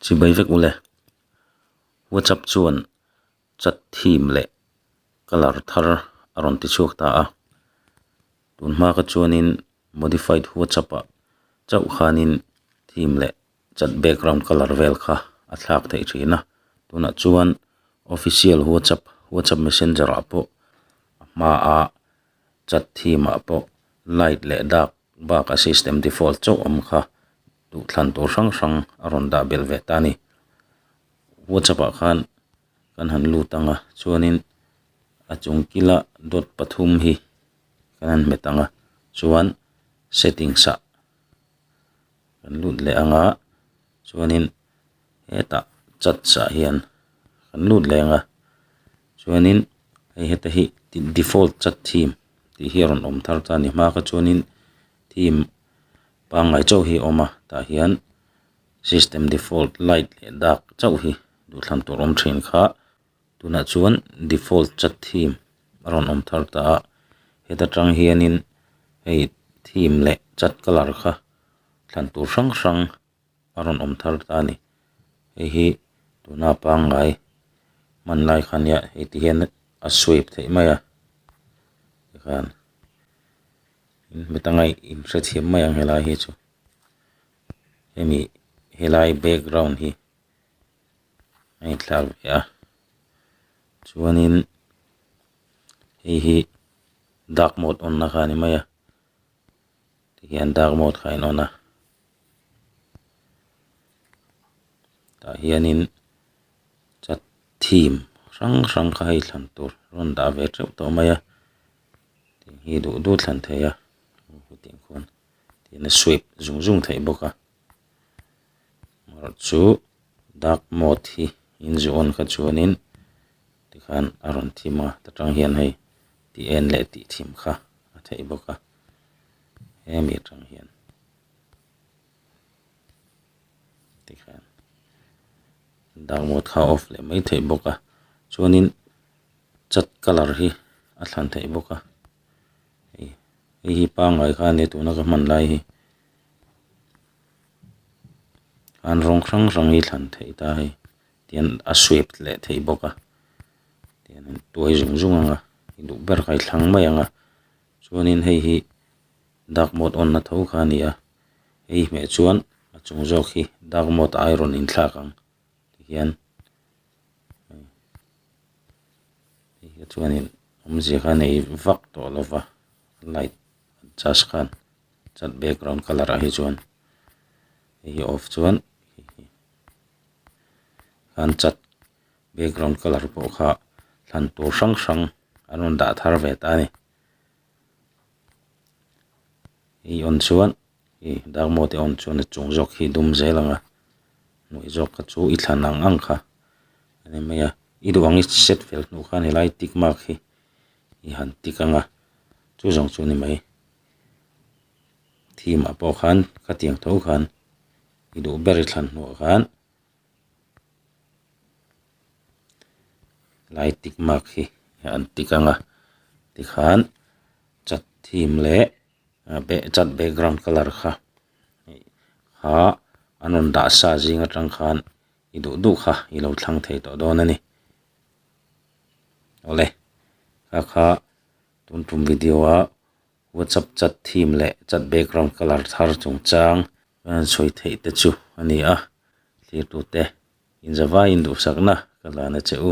Chhi mai vek ule. WhatsApp chuan chat theme leh colour thar a rawn ti chhuak ta a. Tun hma kha chuanin modified WhatsApp ah chauh khanin theme leh chat background colour vel kha a thlak theih thin a. Tunah chuan official WhatsApp, WhatsApp messenger ah pawh a hma ah chat theme ah pawh light leh dark. Bak a system default chauh awm kha duhthlan tur hrang hrang a rawn dah belh ve ta a ni. WhatsApp ah khan kan han lut ang a, chuanin a chung kila dot pathum hi kan han hmet ang a, chuan settings ah kan lut leh ang a, chuanin hetah church ah hian kan lut leng a chuanin hei heta hi default church theme tih hi a rawn awm thar ta a ni hma kha chuanin theme pangngai chauh hi a awm a tah hian system default light leh dark chauh hi duhthlam tur awm thin kha-- Tunah chuan default chat theme a rawn awm thar ta a, heta tang hianin hei theme leh chat color kha thlan tur hrang hrang a rawn awm thar ta a ni. Hei hi tuna pangngai hman lai kha nia hei ti hian a swipe theih mai a, tikhan heta ngaih in hrethiam mai ang helai hi chu, hemi helai background hi a inthlak ve a chuanin hei hi dark mode on na kha ni mai a tihian dark mode kha in on a tah hianin chat theme hrang hrang kha hei thlan tur rawn dah ve teuh tawh mai a tiang hi duh duh thlan thei a hetiang khawn tian a swipe zung zung theih bawk a. Amarawh chu dark mode hi inzu on kha chuanin tikhan a rawn thim a ta tang hian hei ti en leh ti thim kha a theih bawk a hemi atang hian tikhan dark mode kha off leh mai theih bawk a chuanin chat color hi a thlan theih bawk a hei hi pangngai khan tuna ka hman lai hi. an rawng hrang hrang hi thlan theih ta hei tian a sweep leh thei bawk a tian an tuai zung zung ang a i duh ber kai thlang mai ang a chuanin hei hi dak mawt awn na tho kha a ni a hei hmeh chuan a chung zawk hi dak mawt ai rawn in thlak ang tihian hei hi chuanin awmzia kha a nei vak tawh lova light adjust khan. chuan background colour ah hi chuan hei hi off chuan kham chat background colour pawh kha hlan tur hrang hrang an rawn dah thar ve ta a ni hei a awm chuan hei dark mode hi a awm chuan a chung zawk hi a dum zel ang a hnuai zawk kha chu i thlan ang ang kha a ni mai a i duh ang i set fel hnu khan he lai tick mark hi i han tick ang a chu zawng chu a ni mai. Theme ah pawh khan ka tiang tho khan i duh ber i thlan hnuah khan helai tick mark hi an tick ang a tikhan chat theme leh chat background colour kha kha an rawn dah sa zing atang khan i duh duh kha i lo thlang thei tawh dawn a ni awle ka kha. Tun tum video ah WhatsApp chat theme leh chat background colour thar chungchang kan sawi theih te chu a ni a. Thlir tute inzavaiin duhsakna ka zan a che u.